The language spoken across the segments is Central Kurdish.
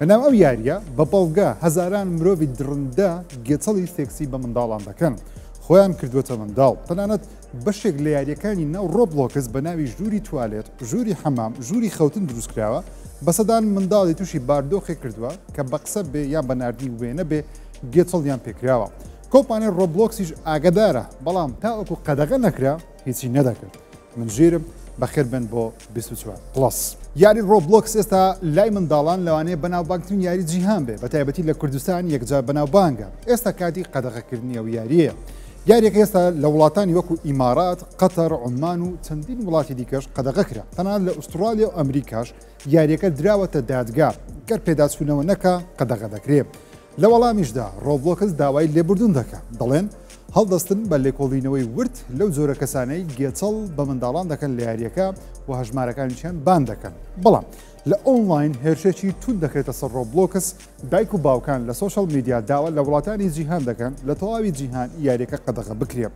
لەناو ئەو یاریە بە بەڵگە هەزاران مرۆڤی دڕندە گێچەڵی سێکسی بە منداڵان دەکەن خۆیان کردووەتە منداڵ تەنانەت بەشێک لە یاریەکانی ناو ڕۆبلۆکس بە ناوی ژووری توالێت ژووری حەمام ژووری خەوتن دروست کراوە بە سەدان منداڵی تووشی باردۆخێک کردووە کە بە قسە بێ یان بە نردنی وێنە بێ گێچەڵیان پێکراوە کۆپانێ ڕۆبلۆکسیش ئاگدارە بەڵام تاوەکو قەدەغە نەکرا هیچی نەدەکرد من ژیرم بەخێر بن بۆ 24 پلس یاری ڕۆبلۆکس ئێستا لای منداڵان لەوانەیە بەناوبانگترین یاری جیهان بێ بە تایبەتی لە کوردستان یەکجار بەناوبانگە ئێستا کاتی قەدەغەکردنی ئەو یاریە یاریێک ئێستا لە وڵاتانی وەکو ئیمارات قەتەر عمان و چەندین وڵاتی دیکەش قەدەغە کرا تەنان لە ئوسترالیا و ئەمریکاش یاریەکە دراوەتە دادگا گەر پێداچوونەوە نەکە قەدەغە دەکرێت لە وەڵامیشدا ڕۆبڵۆکس داوای لێبوردن دەکا، دەڵێن هەڵدەستن بە لێکۆڵینەوەی ورد لەو جۆرە کەسانەی گێچەڵ بە منداڵان دەکەن لە یارییەکە و هەژمارەکانیشیان بان دەکەن، بەڵام لە ئۆنڵاین هێرشێکی توند دەکرێتە سەر ڕۆبڵۆکس، دایک و باوکان لە سۆشیاڵ میدیا داوا لە وڵاتانی جیهان دەکەن لە تەواوی جیهان یارییەکە قەدەغە بکرێ.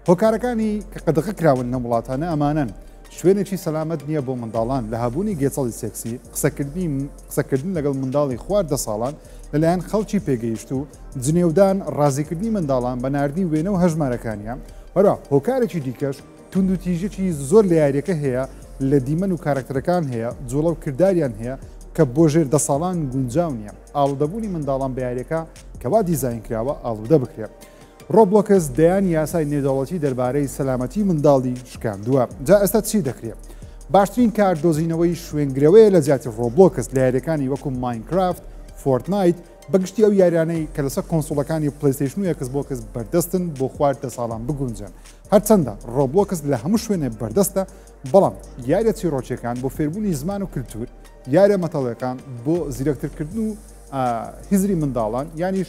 هۆکارەکانی کە قەدەغەکراون لەم وڵاتانە ئەمانەن، شوێنێکی سەلامەت نییە بۆ منداڵان، لەهەبوونی گێچەڵی سێکسی، قسەکردنی قسەکردن لەگەڵ منداڵی خواردە ساڵان لەلایەن خەڵکی پێگەیشتوو، جنێودان، ڕازیکردنی منداڵان بە ناردنی وێنە و هەژمارەکانیان، هەروەها هۆکارێکی دیکەش توندوتیژیی زۆر لە یارییەکە هەیە، لە دیمەن و کارەکتەرەکان هەیە، جووڵە و کرداریان هەیە کە بۆ ژێر دە ساڵان گونجاو نییە، ئاڵودەبوونی منداڵان بە یارییەکە کە وا دیزاین کراوە ئاڵودە بکرێت. ڕۆبڵۆکس دەیان یاسای نێودەوڵەتی دەربارەی سەلامەتی منداڵی شکاندووە جا ئێستا چی دەکرێت؟ باشترین کار دۆزینەوەی شوێنگرەوەیە لە جیاتی ڕۆبڵۆکس لە یاریەکانی وەکو ماینکرافت، فۆرتنایت، بەگشتی ئەو یاریانەی کە لەسەر کۆنسوڵەکانی پلەیستەیشن و ئێکس بۆکس بەردەستن بۆ خواردە ساڵان بگونجێن هەرچەندە ڕۆبڵۆکس لە هەموو شوێنێ بەردەستە بەڵام یاریە چیڕۆکیەکان بۆ فێربوونی زمان و کللتور یاریە مەتەڵەکان بۆ زیرەکترکردن و هزری منداڵان یانیش